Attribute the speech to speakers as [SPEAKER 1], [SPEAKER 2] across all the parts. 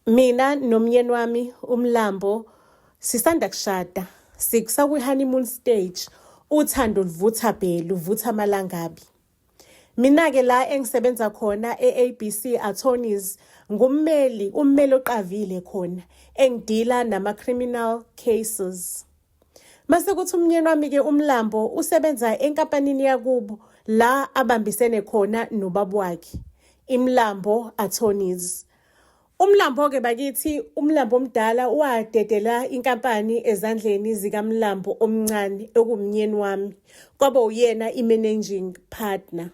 [SPEAKER 1] mina nomyeni wami umlambo sisanda kushada sikusakwi-honeymoon stage uthando luvutha bhe luvutha amalangabi mina-ke la engisebenza khona e-abc attorneys ngummeli ummeli oqavile khona engidila nama-criminal cases Mase kuthi umnyeni wami ke umlambo usebenza enkampanini yakubo la abambisene khona nobaba wakhe imlambo attorneys umlambo ke bakithi umlambo omdala wadedela inkampani ezandleni zikamlambo omncane okumnyeni wami kwaba uyena imanaging partner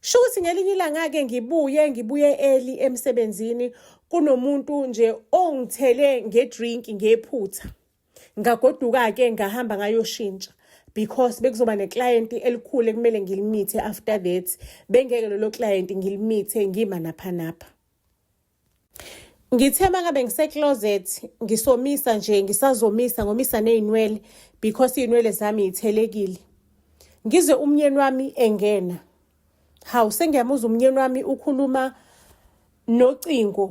[SPEAKER 1] Sho ukuthi ngelinye ilanga-ke ngibuye ngibuye early emsebenzini kunomuntu nje ongithele ngedrink ngephutha ngagoduka-ke ngahamba ngayoshintsha because bekuzoba neklayenti elikhulu ekumele ngilimithe after that bengeke lelo klayenti ngilimithe ngima naphanapha Ngithe mangabe ngisecloset ngisomisa nje ngisazomisa ngomisa nezinwele because izinwele zami yithelekile. Ngizwe umnyeni wami engena. Hawu sengiyamuza umnyeni wami ukhuluma nocingo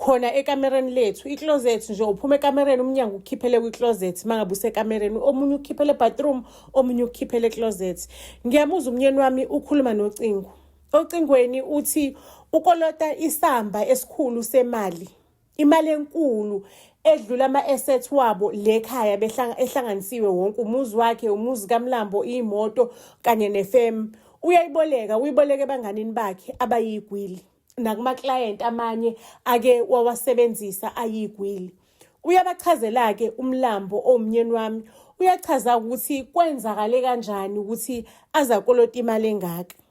[SPEAKER 1] khona ekamereni lethu icloset nje uphuma ekamereni umnyango ukhiphele kwicloset mangabe usekamereni omunye ukhiphele bathroom omunye ukhiphele closet. Ngiyamuza umnyeni wami ukhuluma nocingo. Ocingweni uthi ukolota isamba esikhulu semali, imali enkulu edlula ama-assets wabo le khaya ehlanganisiwe wonke umuzi wakhe umuzi kamlambo iyimoto kanye nefemu uyayiboleka uyiboleka ebanganini bakhe abayigwili nakumaklayenti amanye ake wawasebenzisa ayigwili uyabachazela-ke umlambo owumnyeni wami uyachaza ukuthi kwenzakale kanjani ukuthi azakolota imali engaka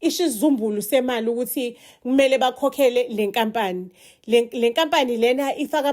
[SPEAKER 1] isho isizumbulu semali ukuthi kumele bakhokhele le nkampani le nkampani lena ifaka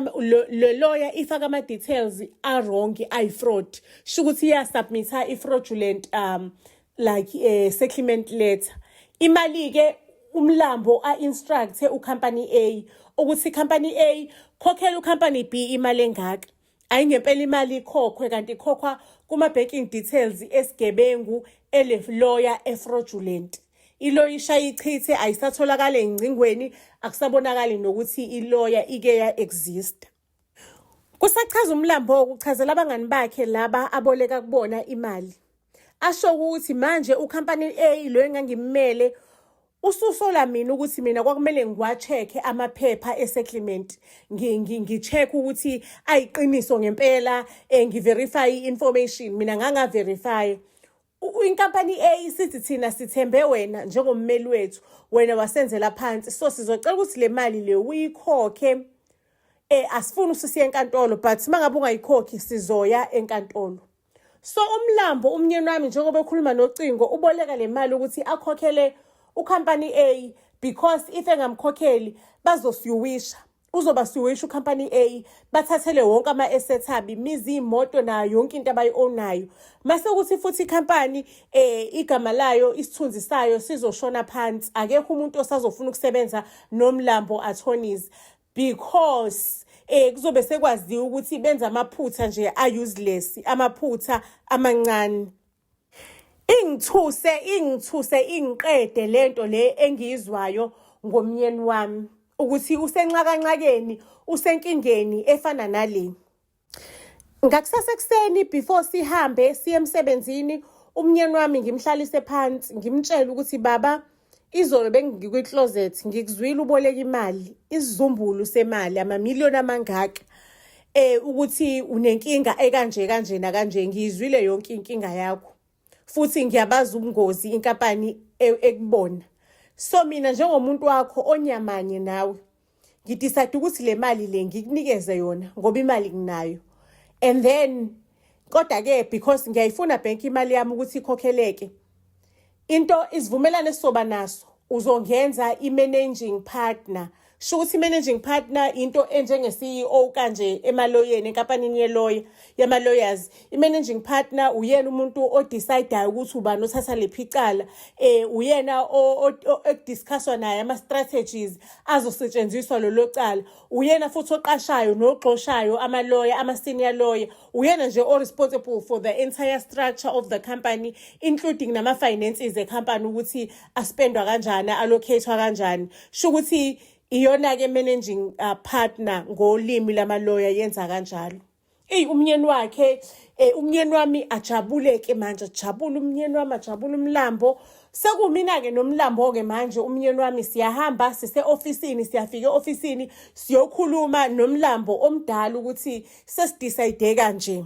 [SPEAKER 1] le lawyer ifaka ama details a wrong ayi fraud sho ukuthi iya submitha i fraudulent um like a eh, settlement letter imali ke umlambo a instruct u company A ukuthi company A khokhela u company B imali engaka Ayi ngempela imali ikhokhwe kanti ikhokhwa kuma-banking details esigebengu eleloya efraudulent iloya ishaya ichithe ayisatholakali engcingweni akusabonakali nokuthi iloya ike ya-exista kusachaza umlambo ukuchazela abangani bakhe laba aboleka kubona imali asho ukuthi manje ukhampani A lo engangimele ususola mina ukuthi mina kwakumele ngiwachekhe amaphepha esettlement ngicheck ukuthi ayiqiniso ngempela eh, ngiverify i-information mina ngangaverify inkampani A isithi thina sithembe wena njengommeli wethu wena wasenzela phansi so sizocela ukuthi le mali le uyikhokhe eh asifuni usisiye enkantolo but mangabe ungayikhokhi sizoya enkantolo So umlambo umnyeni wami njengoba ekhuluma nocingo uboleka le mali ukuthi akhokhele ucompany A because if engamkhokheli bazosiyuwisha uzoba siwisha ucompany A bathathele wonke ama assets abi mizi imoto nayo yonke into abayiownayo mase ukuthi futhi icompany eh igama layo isithunzi sayo sizoshona phansi akekho umuntu osazofuna ukusebenza nomlambo attorneys because eh kuzobe sekwaziwa ukuthi benza amaphutha nje a useless amaphutha amancane ingithuse ingithuse ingiqede lento le engiyizwayo ngomnyeni wami ukuthi usenxakanxakeni usenkingeni efana nale ngakusasa ekuseni before sihambe siye emsebenzini umnyeni wami ngimhlalise phansi ngimtshele ukuthi baba izolo bengikwi-closet ngikuzwile uboleka imali isizumbulu semali amamiliyoni amangaka eh ukuthi unenkinga ekanje kanje nakanje ngiyizwile yonke inkinga yakho futhi ngiyabazi ubungozi inkampani e, ekubona so mina njengomuntu wakho onyamanye nawe ngidecide ukuthi le mali le ngikunikeze yona ngoba imali nginayo and then kodwa-ke because ngiyayifuna bhenki imali yami ukuthi ikhokheleke into isivumelane esizoba naso uzongenza i-managing partner sho ukuthi i-managing partner into enjenge-ceo kanje emaloyeni enkampanini yeloya yama-lawyers i-managing partner uyena umuntu odecidayo ukuthi ubani othatha liphi icala um uyena ekudiscusswa naye ama-strategies azosetshenziswa lolo cala uyena futhi oqashayo nogxoshayo amaloya ama-senior lawyer uyena nje o-responsible for the entire structure of the company including nama-finances ecompany ukuthi aspendwa kanjani allocathwa kanjani sho ukuthi iyona-ke managing uh, partner ngolimi lamaloya yenza kanjalo eyi umnyeni wakhe um umnyeni wami ajabuleke manje ajabule umnyeni wami ajabule umlambo sekumina-ke nomlambo-ke manje umnyeni wami siyahamba sise-ofisini siyafika e-ofisini siyokhuluma nomlambo omdala ukuthi sesidisayide kanje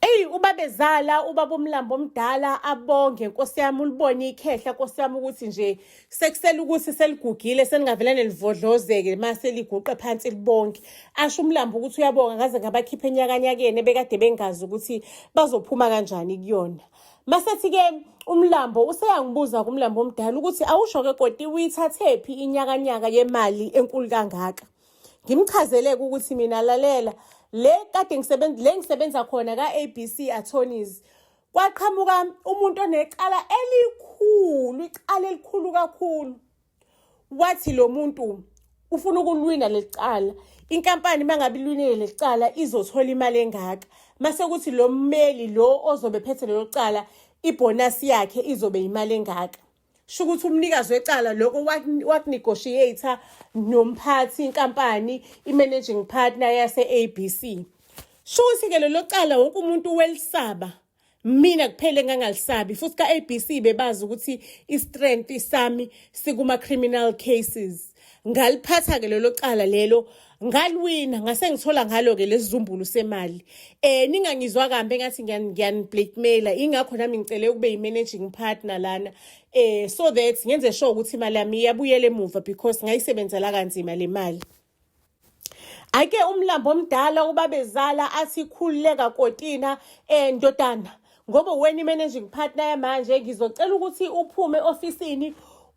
[SPEAKER 1] Eyi ubabezala ubaba umlambo omdala abonge nkosi yami ulibone ikhehla nkosi yami ukuthi nje sekusela ukuthi seligugile seningavele nelivodlozeke ma seliguqe phansi libonke asho umlambo ukuthi uyabonga ngaze ngabakhipha enyakanyakeni ebekade bengazi ukuthi bazophuma kanjani kuyona masethi-ke umlambo useyangibuza kumlambo omdala ukuthi awusho-ke koti uyithathephi inyakanyaka yemali enkulu kangaka ngimchazeleke ukuthi mina lalela le kade ngisebenza le ngisebenza khona ka ABC attorneys kwaqhamuka umuntu onecala elikhulu icala elikhulu kakhulu wathi lo muntu ufuna ukulwina lecala inkampani mangabe ilwinile lecala izothola imali engaka mase kuthi lo mmeli lo ozobe phethe lelo cala ibonus yakhe izobe imali engaka sho ukuthi umnikazi wecala lokho wakunegotiator nomphathi inkampani i-managing partner yase-abc sho ukuthi-ke lelo cala wonke umuntu welisaba mina kuphele ngangalisabi futhi ka-abc bebazi ukuthi i-strength sami sikuma-criminal cases ngaliphatha-ke lelo cala lelo ngaliwina ngase ngithola ngalo-ke lesizumbulu semali um ningangizwa kambi engathi ngiyaniblackmaila ingakho nami ngicele ukube yi-managing partner lana um so that ngenze sure ukuthi imali yami iyabuyela emuva because ngayisebenzela kanzima le mali ake umlambo omdala ubabezala athi khululeka kotina eh ndodana ngoba wena i-managing partner yamanje ngizocela ukuthi uphume ofisini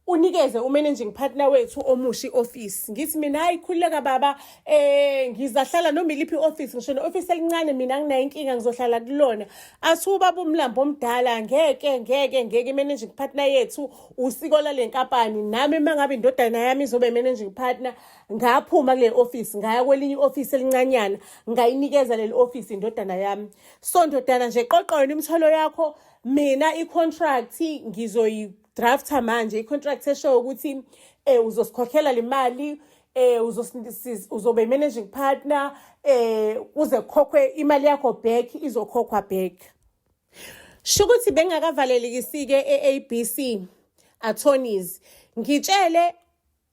[SPEAKER 1] unikeze umanaging partner wethu omushi office ngithi mina hayi khululeka baba eh ngizahlala noma iliphi office ngisho ne office elincane mina nginayo inkinga ngizohlala kulona athi ubaba umlambo omdala ngeke ngeke ngeke managing partner yethu usiko lale nkampani nami mangabe indodana yami izobe managing partner ngaphuma kule office ngaya kwelinye office elincanyana ngayinikeza leli office indodana yami so ndodana nje qoqa yona imithwalo yakho mina i-contract ngizoyi-drafta manje i-contract eshoyo ukuthi um eh, uzosikhokhela le mali eh uzobe managing partner eh uze kokwe imali yakho back izokhokhwa back shukuthi bengakavalelekisike eABC attorneys ngitshele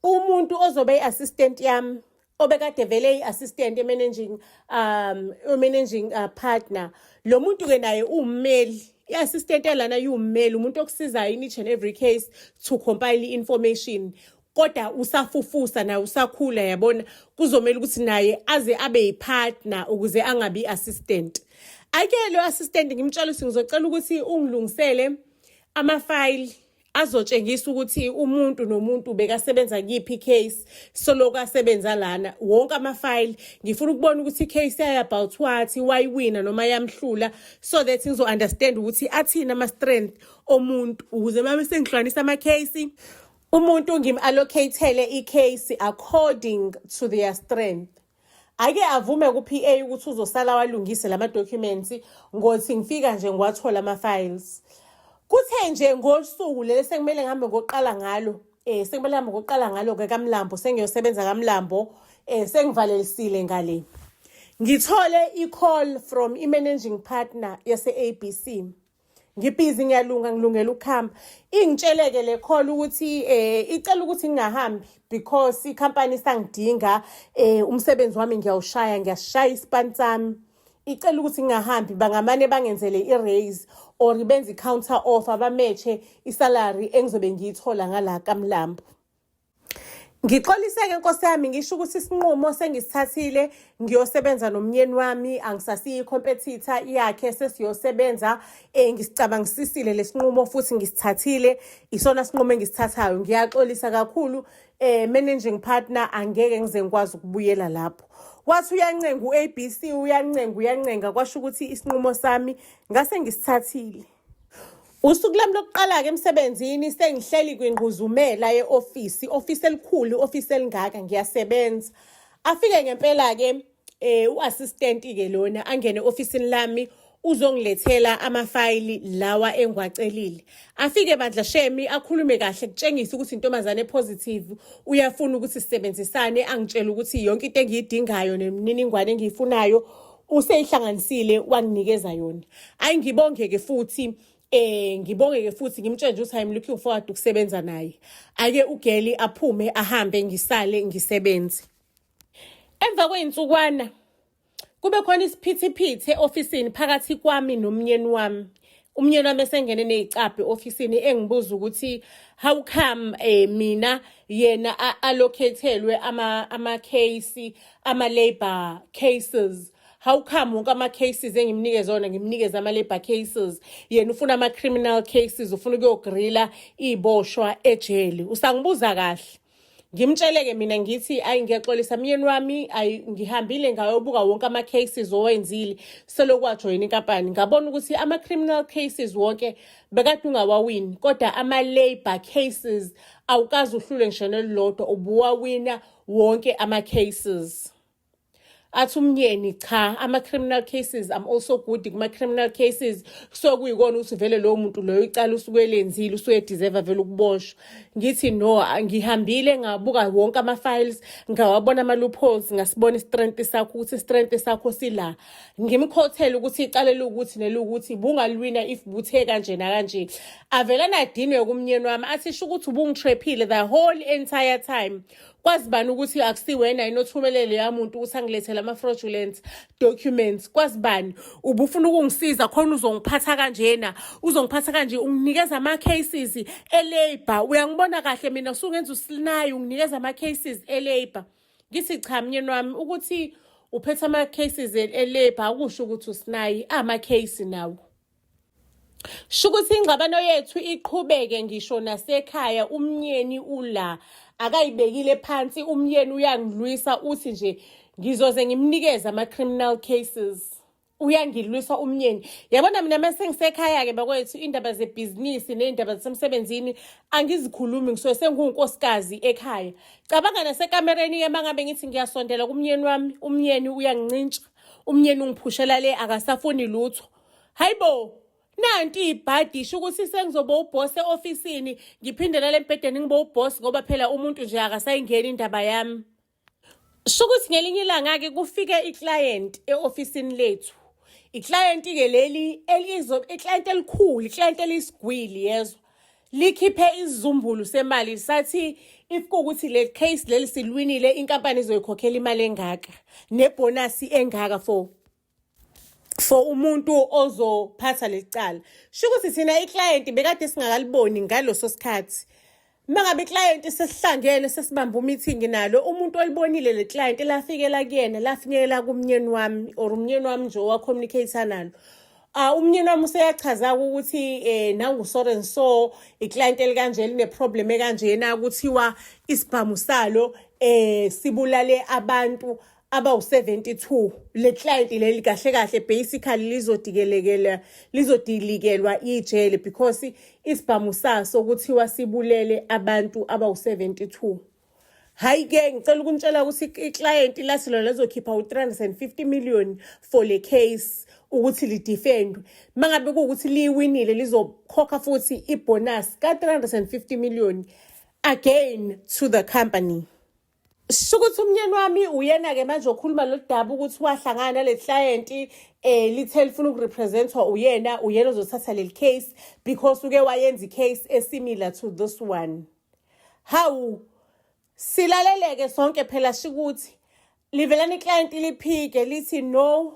[SPEAKER 1] umuntu ozobe i-assistant yami obekade vele i-assistant emanaging um managing uh, partner lo muntu-ke naye uwummeli i-assistant yalana iwummeli umuntu okusizayo in each and every case to compile i-information kodwa usafufusa naye usakhula yabona kuzomele ukuthi naye aze abe yipartner ukuze angabi assistant ake lo assistant ngimtshela ukuthi ngizocela ukuthi ungilungisele amafayili azotshengisa ukuthi umuntu nomuntu bekasebenza kuyiphi icase soloku asebenza lana wonke amafayili ngifuna ukubona ukuthi icase yayo about what wayiwina noma yamhlula so that ngizo-understand ukuthi athini ama-strength omuntu ukuze uma sengihlukanisa ama-case umuntu ngim-allocatele icase according to their strength ake avume ku-PA ukuthi uzosala walungise lama documents ngothi ngifika nje ngiwathola ama files kuthe nje ngosuku leli sekumele ngihambe ngoqala ngalo eh sekumele ngihambe ngoqala ngalo ke kaMlambo sengiyosebenza kaMlambo eh sengivalelisile ngale ngithole i-call from i-managing partner yase-abc ngibhizi ngiyalunga ngilungela ukuhamba ingitsheleke le call ukuthi eh icela ukuthi ngingahambi because ikhampani isangidinga eh umsebenzi wami ngiyawushaya ngiyashaya ispan sami icela ukuthi ngingahambi bangamane bangenzele i-raise or benze i-counter offer bametshe isalary engizobe ngiyithola ngala kamlambo Ngixolise-ke nkosi yami ngisho ukuthi isinqumo sengisithathile ngiyosebenza nomnyeni wami angisasiyi competitor yakhe sesiyosebenza eh ngisicabangisisile lesinqumo futhi ngisithathile isona sinqumo engisithathayo ngiyaxolisa kakhulu eh managing partner angeke ngize ngikwazi ukubuyela lapho wathi uyancenga u-ABC uyancenga uyancenga kwasho ukuthi isinqumo sami ngase ngisithathile Usuku lami lokuqala-ke emsebenzini sengihleli kwingquzumela ye-ofisi, ofisi elikhulu, ofisi elingaka, ngiyasebenza. Afike ngempela-ke um u-assistant-ke lona angene ofisini lami uzongilethela amafayili lawa engiwacelile afike bandla shemi akhulume kahle kutshengisa ukuthi intombazane positive uyafuna ukuthi sisebenzisane angitshela ukuthi yonke into engiyidingayo nemininingwane engiyifunayo useyihlanganisile wanginikeza yona ayi ngibongeke futhi eh ngibongeke futhi ngimtshele nje ukuthi i'm looking forward ukusebenza naye ake ugeli aphume ahambe ngisale ngisebenze emva kwey'nsukwana kube khona isiphithiphithi e-ofisini phakathi kwami nomnyeni wami umnyeni wami esengene nezicabhe ofisini engibuza ukuthi how come eh mina yena allocatelwe ama ama case ama labor cases how come wonke ama-cases engimnikeze ona ngimnikeze ama-labor cases yena ufuna ama-criminal cases ufuna ukuyogrila iy'boshwa ejele usangibuza kahle ngimtsheleke mina ngithi ayi ngiyaxolisa myeni wami ayi ngihambile ngayobuka wonke ama-cases owenzile selokhu wajoyina inkampani ngabona ukuthi ama-criminal cases wonke bekade ungawawini kodwa ama-labour cases awukazi uhlule ngisho nelilodwa ubuwawina wonke ama-cases athi umnyeni cha ama-criminal cases am also good kuma-criminal cases kusuke kuyikona ukuthi vele lowo muntu loyo icala usuke elenzile usuke ediserva vele ukuboshwa ngithi no ngihambile ngabuka wonke ama-files ngawabona ama-loopholes ngasibona istrength sakho ukuthi istrength sakho sila ngimkhothele ukuthi icala elukuthi nelukuthi bungalwina if buthe kanje nakanje avele nadinwe kumnyeni wami athi sho ukuthi ubungitrephile the whole entire time kwazi bani ukuthi akusiwena yini othumele leya muntu ukuthi angilethele ama-fraudulent documents kwazi bani ubufuna ukungisiza khona uzongiphatha kanjena uzongiphatha kanje unginikeza ama-cases e-labour uyangibona kahle mina usungenza usilinayi unginikeza ama-cases e-labour ngithi cha mnyeni wami ukuthi uphethe ama-cases e-labour akusho ukuthi usinayi ama-case nawo Shukuthi ingxabano yethu iqhubeke ngisho nasekhaya umnyeni ula akayibekile phansi umyeni uyangilwisa uthi nje ngizoze ngimnikeze ama-criminal cases uyangilwisa umnyeni yabona mina uma sengisekhaya-ke bakwethu iy'ndaba zebhizinisi ney'ndaba zasemsebenzini angizikhulumi ngisuke sengiwunkosikazi ekhaya cabanga nasekamereni-ke uma ngabe ngithi ngiyasondela kumnyeni wami umnyeni uyangincintsha umnyeni ungiphushela le akasafuni lutho hayibo nanti ibhadi isho ukuthi sengizoba uboss eofisini ngiphinde lale embhedeni ngiba uboss ngoba phela umuntu nje akasayingeni indaba yami sho ukuthi ngelinye ilanga-ke kufike iclient eofisini lethu iclient-ke leli iclient elikhulu iclient eliyisigwili yezwa likhiphe isizumbulu semali sathi if kuwukuthi le case leli silwinile inkampani izoyikhokhela imali engaka nebhonasi engaka for for umuntu ozophatha lecala sho ukuthi thina iclient bekade singakaliboni ngaloso sikhathi mangabe iclient sesihlangene sesibamba umeeting nalo umuntu olibonile le client elafikela kuyena lafinyekela kumnyeni wami or umnyeni wami nje owacommunicate nalo Ah umnyeni wami useyachaza ukuthi eh nangu so and so iclient elikanje line problem ekanjena kuthiwa isibhamu salo eh sibulale abantu abawu-72 le client leli kahle kahle basically lizodikelekela lizodilikelwa ijele because isibhamu saso kuthiwa sibulele abantu abawu-72 hayi ke ngicela ukunitshela ukuthi iclient lathi lona lizokhipha u-350 million for le case ukuthi lidefendwe uma ngabe kuwukuthi liyiwinile lizokhokha futhi ibonus ka-350 million again to the company Shukuthi umnyeni wami uyena ke manje okhuluma loludaba ukuthi wahlangana nale client eh lithe lifuna ukurepresentwa uyena uyena ozothatha leli case because uke wayenza icase esimilar to this one. Hawu silaleleke sonke phela shikuthi livelani client liphike lithi no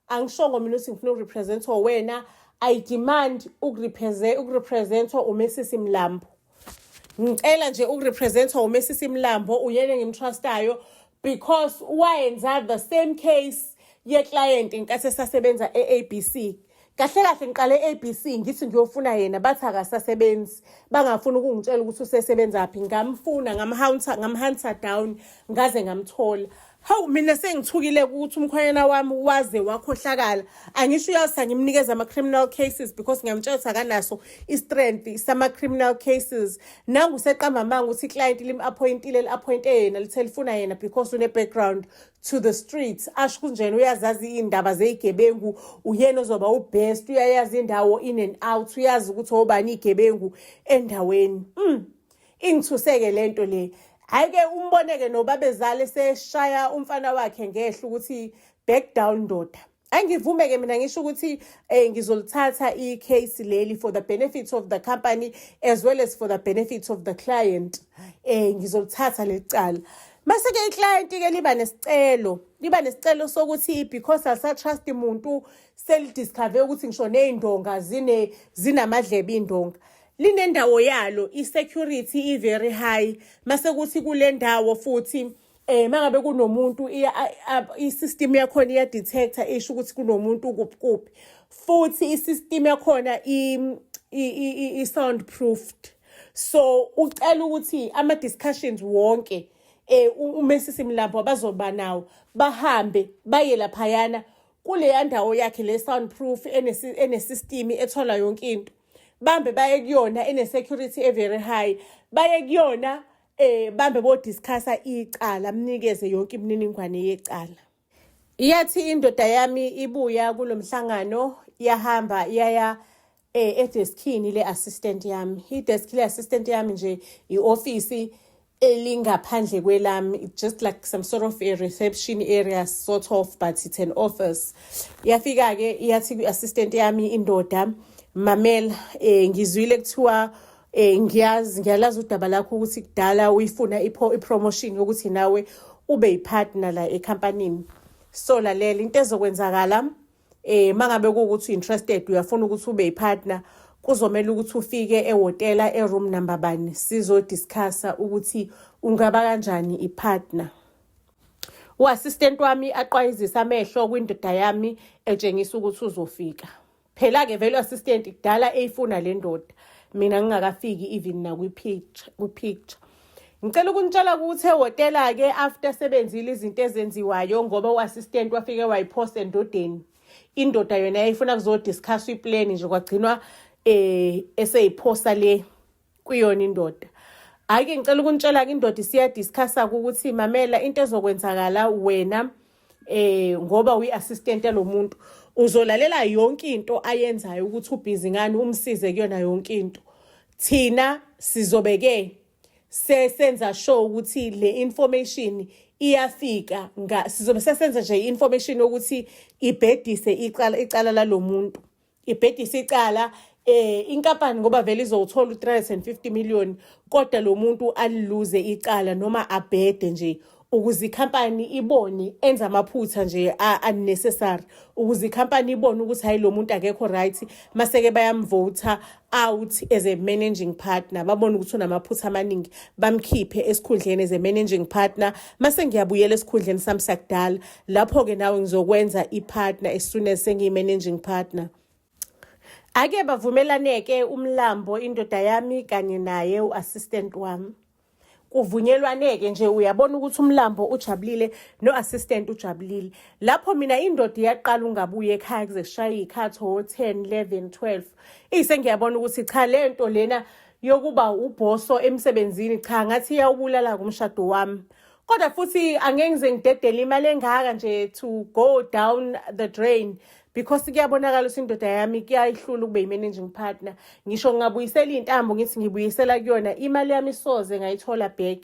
[SPEAKER 1] angishongo mina ukuthi ngifuna ukurepresentwa wena i demand ukurepresentwa umesisi mlambo ngicela nje ukurepresentwa umesisi mlambo uyena engimtrustayo because wayenza the same case yeclient nkathi esasebenza e-abc kahle kahle ngiqale ABC ngithi ngiyofuna yena bathi akasasebenzi bangafuni ukungitshela ukuthi usesebenza phi ngamfuna ngamhunter ngamhunter down ngaze ngamthola hawu mina sengithukile ukuthi umkhwanyana wami waze wakhohlakala angisho uyasa ngimnikeza ama-criminal cases because ngiyamtshela ukuthi akanaso i-strength sama-criminal cases nangu seqamba amanga ukuthi iclayenti lim-aphoyintile li-aphoyinte yena lithe lifuna yena because une-background to the streets asho kunjena uyazazi iy'ndaba zey'gebengu uyena ozoba ubest uyayazi indawo in and out uyazi ukuthi obani iy'gebengu endaweni mm. ingithuseke le nto le hhayi-ke umboneke nobabezala eseshaya umfana wakhe ngehla ukuthi back down ndoda angivume ke mina ngisho ukuthi eh ngizolithatha i-case leli for the benefits of the company as well as for the benefits of the client eh ngizolithatha lecala Mase ke iclient ke liba nesicelo, liba nesicelo sokuthi because asa trust umuntu seli discover ukuthi ngisho nezindonga zine zinamadlebe indonga. Linendawo yalo i security i very high. Mase kuthi kule ndawo futhi Eh mangabe kunomuntu i-system yakhona iya detector isho ukuthi kunomuntu kuphi kuphi futhi i-system yakhona i sound proofed so ucela ukuthi ama discussions wonke eh umesisi mlambo abazoba nawo bahambe baye laphayana kuleya ndawo yakhe le sound proof enesystem ethola yonke into bambe baye kuyona ene security e very high baye kuyona eh bambe bo discussa icala mnikeze yonke imininingwane yecala iyathi indoda yami ibuya kulomhlangano yahamba yaya eh edeskini le assistant yami i desk le assistant yami nje i office elingaphandle kwelami just like some sort of a reception area sort of but it's an office yafika ke iyathi kwi-assistant yami indoda mamela eh ngizwile kuthiwa Eh ngiyazi ngiyalazi udaba lakho ukuthi kudala uyifuna i-promotion yokuthi nawe ube yipartner la ecompanyini. So lalela into ezokwenzakala eh mangabe ukuthi interested uyafuna ukuthi ube yipartner kuzomela ukuthi ufike ehotela eroom number bani sizo discussa ukuthi ungaba kanjani ipartner. U-assistant wami aqwayizisa amehlo kwindoda yami etshengisa ukuthi uzofika. phela ke value assistant kudala eyifuna le ndoda mina ngingakafiki even nakwipicture kwipicture ngicela ukunitshela ukuthi ehhotela ke after sebenzile izinto ezenziwayo ngoba u-assistant wafike wayipost endodeni indoda yona yayifuna kuzodiscusswa iplani nje kwagcinwa um eseyiphosa le kuyona indoda hhayi ke ngicela ukunitshela-ke indoda isiyadiscussa-ke ukuthi mamela into ezokwenzakala wena eh ngoba uyi-assistant yalo muntu uzolalela yonke into ayenzayo ukuthi ubhizi ngani umsize kuyona yonke into thina sizobe-ke sesenza sure ukuthi le information iyafika sizobe sesenza nje i-information yokuthi ibhedise icala lalo muntu ibhedisa icala eh inkampani ngoba vele izowuthola u350 million kodwa lo muntu aliluze icala noma abhede nje ukuze ikhampani ibone enza amaphutha nje unnecessary ukuze ikhampani ibone ukuthi hayi lo muntu akekho right maseke bayamvota out as a managing partner babone ukuthi unamaphutha amaningi bamkhiphe esikhundleni as a managing partner mase ngiyabuyela esikhundleni sami sakudala lapho-ke nawe ngizokwenza i-partner as soon as sengiyi-managing partner ake bavumelaneke umlambo indoda yami kanye naye u-assistant wami kuvunyelwaneke nje uyabona ukuthi umlambo ujabulile no-assistant ujabulile lapho mina indoda iyaqala ungabuye ekhaya kuze kushaye iy'khathi o-ten eleven twelve iyise ngiyabona ukuthi cha le nto lena yokuba ubhoso emsebenzini cha ngathi iyawubulala-ke umshado wami kodwa futhi angeke ngize ngidedele imali engaka nje to go down the drain because kuyabonakala ukuthi indoda yami kuyayihlula ukube yi-managing partner ngisho ngingabuyisela iy'ntambo ngithi ngibuyisela kuyona imali yami soze ngayithola back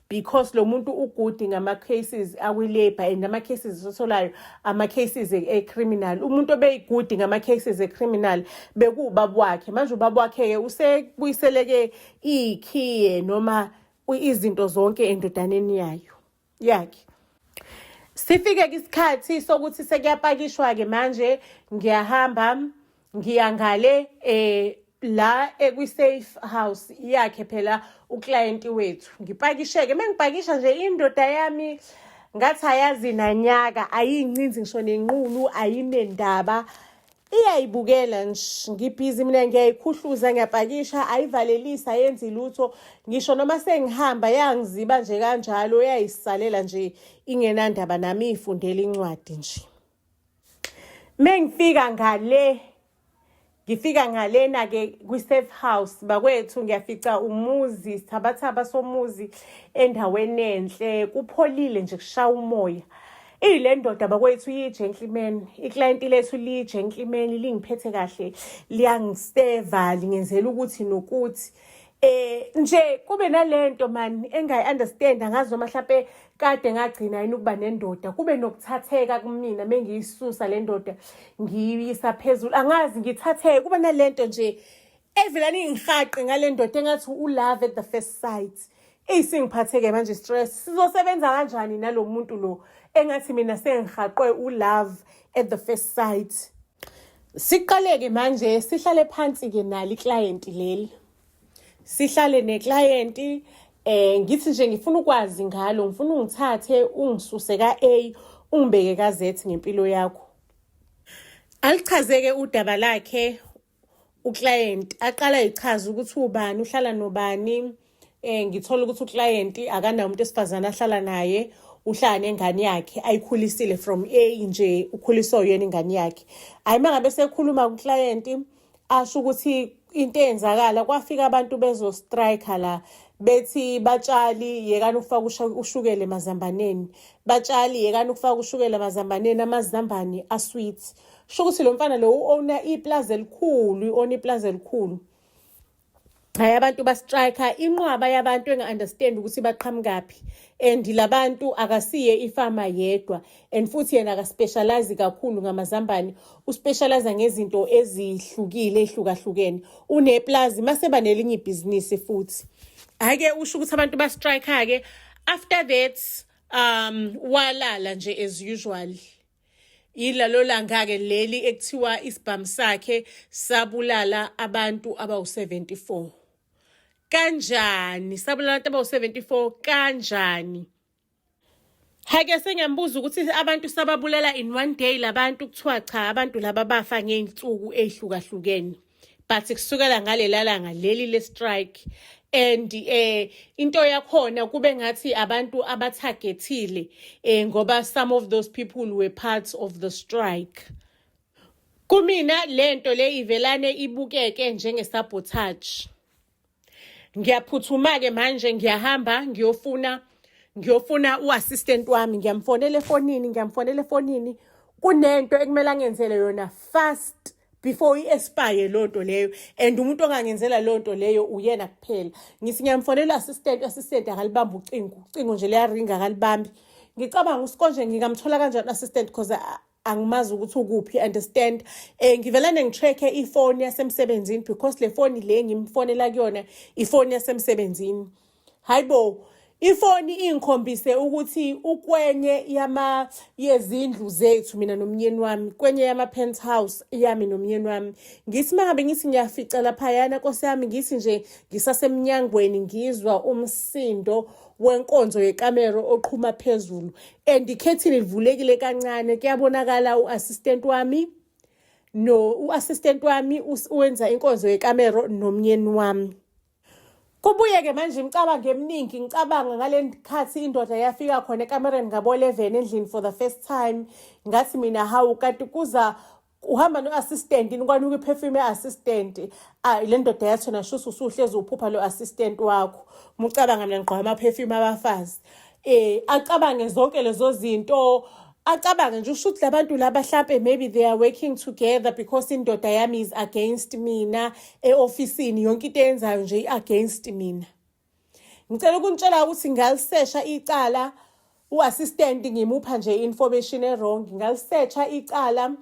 [SPEAKER 1] because lo muntu ugudi ngama-cases akwi-labour and ama-cases esitholayo ama-cases e-criminal umuntu obeyigudi ngama-cases e-criminal bekuwubaba wakhe manje ubaba wakhe-ke usebuyiseleke iy'khiye noma izinto zonke endodaneni yayo yakhe sifike ke isikhathi sokuthi sekuyapakishwa-ke manje ngiyahamba ngiya ngale eh la ekwi-safe house yakhe phela uklayenti wethu ngipakisheke uma ngipakisha nje indoda yami ngathi ayazi nanyaka ayiyincinzi ngisho nenqulu ayinendaba iyayibukela nsh ngibhizi mina ngiyayikhuhluza ngiyapakisha ayivalelisi ayenzi lutho ngisho noma sengihamba yangiziba nje kanjalo uyayisalela nje ingenandaba nami ifundela incwadi nje mengifika ngale ngifika ngalena ke kwi safe house bakwethu ngiyafica umuzi sithabathaba somuzi endaweni enhle kupholile nje kushaya umoya Eyi le ndoda bakwethu iyi-gentleman iklayenti lethu liyi-gentleman lingiphethe kahle liyangiseva lingenzela ukuthi nokuthi eh nje kube nalento man engayi understand angazi noma mhlawumbe kade ngagcina yini ukuba nendoda kube nokuthatheka kumina mengiyisusa le ndoda ngiyisa phezulu angazi ngithatheke kuba nalento nje evela ningihaqe ngale ndoda engathi ulove at the first sight eyi sengiphatheke manje stress sizosebenza kanjani nalo muntu lo engathi mina sengihaqwe ulove at the first sight siqaleke manje sihlale phansi-ke nalo iklayenti leli sihlale neklayenti eh ngithi nje ngifuna ukwazi ngalo ngifuna ungithathe ungisuse ka-a ungibeke ka-z ngempilo yakho alichazeke udaba lakhe uclient aqala echaza ukuthi ubani uhlala nobani eh ngithola ukuthi uclient akanawo umuntu esifazane ahlala naye uhlala nengane yakhe ayikhulisile from A nje ukhuliswa uyena ingane yakhe hayi mangabe sekhuluma kuclient asho ukuthi into eyenzakala kwafika abantu bezo striker la bethi batshali yekani ukufaka ushukela emazambaneni batshali yekani ukufaka ushukela emazambaneni amazambane asweet sho ukuthi lo mfana lo u-owna iplazi elikhulu i-owna iplazi elikhulu hayi abantu bastrike inqwaba yabantu enga-understand ukuthi baqhamukaphi and labantu akasiye ifama yedwa and futhi yena akaspecialize kakhulu ngamazambane uspecialize ngezinto ezihlukile ehlukahlukene uneplazi maseba nelinye ibhizinisi futhi hhayi-ke usho ukuthi abantu bastrike-ke after that um walala nje as usual Yilalo langa-ke leli ekuthiwa isibhamu sakhe sabulala abantu abawu-74. Kanjani? Sabulala abantu abawu-74 kanjani? Hake sengiyamubuza ukuthi abantu sababulala in one day labantu kuthiwa cha abantu laba bafa ngey'nsuku ey'hlukahlukene. but kusukela ngalelalanga leli le strike and eh into yakhona kube ngathi abantu abathagethile eh ngoba some of those people were parts of the strike kumina lento le ivelane ibukeke njenge sabotage ngiyaphuthuma-ke manje ngiyahamba ngiyofuna ngiyofuna u-assistant wami ngiyamfonela efonini ngiyamfonela efonini kunento ekumele angenzele yona fast before i-espire loo nto leyo and umuntu ongangenzela loo nto leyo uyena kuphela ngithi ngiyamfonela u-assistant u-assistant akalibambi ucingo ucingo nje liyaringa akalibambi ngicabanga usikonje ngingamthola kanjani u-assistant because angimazi ukuthi ukuphi understand eh ngivelane ngicheck-e ifoni yasemsebenzini because le foni le ngimfonela kuyona ifoni yasemsebenzini hayibo ifoni ingikhombise ukuthi ukwenye yama yezindlu zethu mina nomnyeni wami kwenye yama penthouse yami nomnyeni wami ngithi mangabe ngithi ngiyafica laphayana nkosi yami ngithi nje ngisasemnyangweni ngizwa umsindo wenkonzo yekamero oqhuma phezulu and ikhethini livulekile kancane kuyabonakala u-assistant wami no u-assistant wami wenza inkonzo yekamero nomnyeni wami kubuye-ke manje imicabango eminingi ngicabanga ngale khathi indoda yafika khona ekamereni ngabo-11 endlini for the first time ngathi mina hawu kanti kuza uhamba no-assistant ini kwanuka iphefumi e-assistant ayi le ndoda yathona shuthi usuhlezi uphupha lo assistant wakho mucabanga mina ngigqoka amaphefumi abafazi um acabange zonke lezo zinto acabange nje usho ukuthi labantu laba hlampe maybe they are working together because indoda yami is against mina e-ofisini yonke into eyenzayo nje i-against mina ngicela ukunitshela ukuthi ngalisesha icala u-assistant ngimupha nje information e-wrong ngalisesha icala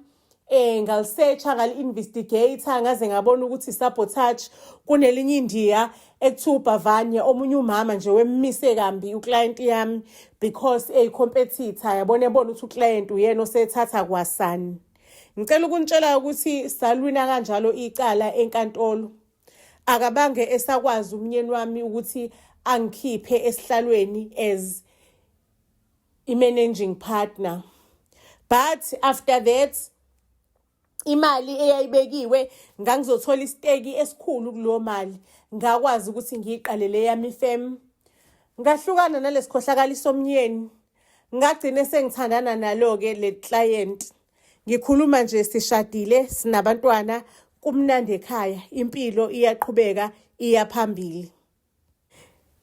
[SPEAKER 1] eh ngalisesha ngali-investigator ngaze ngabona ukuthi sabotage kunelinye indiya ekuthiwa ubhavanye omunye umama nje wemmise kambi uclient yami because eyi-competitor yabona ebona ukuthi uclient uyena osethatha kwasani ngicela ukunitshela ukuthi salwina kanjalo icala enkantolo akabange esakwazi umnyeni wami ukuthi angikhiphe esihlalweni as i-managing partner but after that imali eyayibekiwe ngangizothola isiteki esikhulu kuleyo mali ngakwazi ukuthi ngiyiqalele yami fem ngahlukana nalesikhohlakali somnyeni ngagcine sengithandana nalo-ke le client Ngikhuluma nje sishadile sinabantwana kumnandi ekhaya impilo iyaqhubeka iya phambili.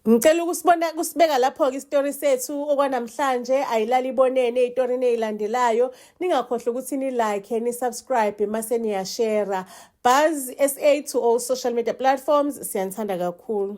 [SPEAKER 1] Ngicela ukusibona kusibeka lapho-ke isitori sethu okwanamhlanje ayilali ibonene itori neyilandelayo ningakhohlwa ukuthi nilike nisubscribe mase niyashera buzz sa to all social media platforms siyanithanda kakhulu